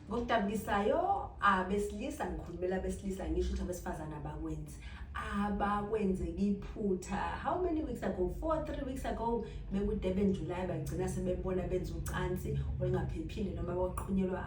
ngokudabukisayo abesilisa ngikhulumela abesilisa ngisho ukuthi abesifazane abakwenzi abakwenzeki iphutha how many weeks ago four three weeks ago bekudurban july bagcina sebebona benza ucansi olungaphephile noma kwaqhunyelwa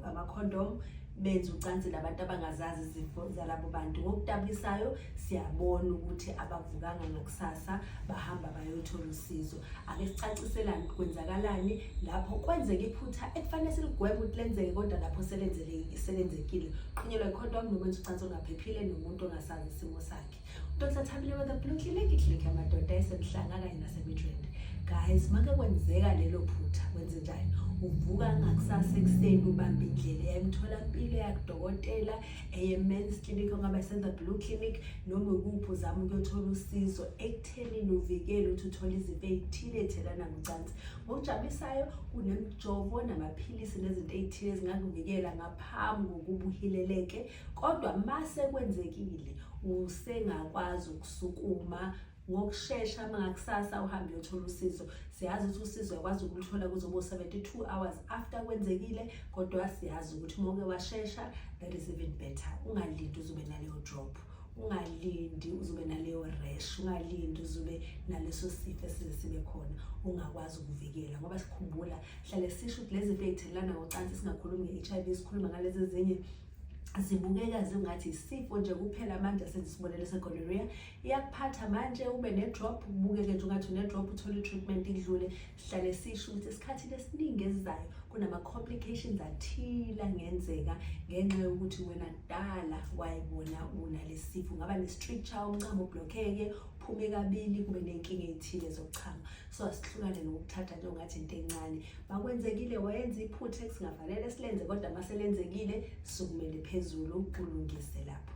amakhondom benza ucansi labantu abangazazi izifo zalabo bantu ngokudabukisayo siyabona ukuthi abavukanga ngakusasa bahamba bayothola usizo ake sicaciselane kwenzakalani lapho kwenzeka iphutha ekufanele siligweme ukuthi lenzeke kodwa lapho selenzekile qhunyelwa ikhonto wami nokwenza ucansi olungaphephile nomuntu ongasazi isimo sakhe umuntu okusathabile wetha blue clinic clinic amadoda esemhlanga kanye nasemidrende guys make kwenzeka lelo phutha wenze njani uvuka ngakusasa ekuseni ubambe indlela yayimtholampilo yakudokotela eye-mens clinic ongaba isenza blue clinic noma ukuphi uzama ukuyothola usizo ekuthenini uvikele ukuthi uthole izifo ey'thile ey'thelana ngocansi ngokujabulisayo kunemijovo namaphilisi nezinto ey'thile ezingakuvikela ngaphambi kokuba uhileleke kodwa uma sekwenzekile usengakwazi ukusukuma ngokushesha mangakusasa uhambe uyothola usizo siyazi ukuthi usizo yakwazi ukuluthola kuzobo 72 hours after kwenzekile kodwa siyazi ukuthi uma uke washesha that is even better ungalindi uzobe naleyo drop ungalindi uzobe naleyo rash ungalindi uzobe naleso sifo esize sibe khona ungakwazi ukuvikela ngoba sikhumbula hlale sisho ukuthi lezi zinto ey'thelelana ngocansi singakhulumi nge-h i v sikhuluma ngalezi ezinye zibukeka zingathi isifo nje kuphela manje sesibonele segonorrhea iyakuphatha manje ube ne-drop ubukeke nje ungathi une-drop uthole i-treatment idlule Sihlale sisho ukuthi esikhathini esiningi esizayo kunama-complications athile angenzeka ngenxa yokuthi wena kudala wayibona unalesi sifo ungaba ne-stricture umncamo ublokheke uphume kabili kube nenkinga ey'thile zokuchama so asihlukane nokuthatha nje ungathi into encane makwenzekile wayenza iphutha esingafanele silenze kodwa maselenzekile sukumele phezulu ulungise lapho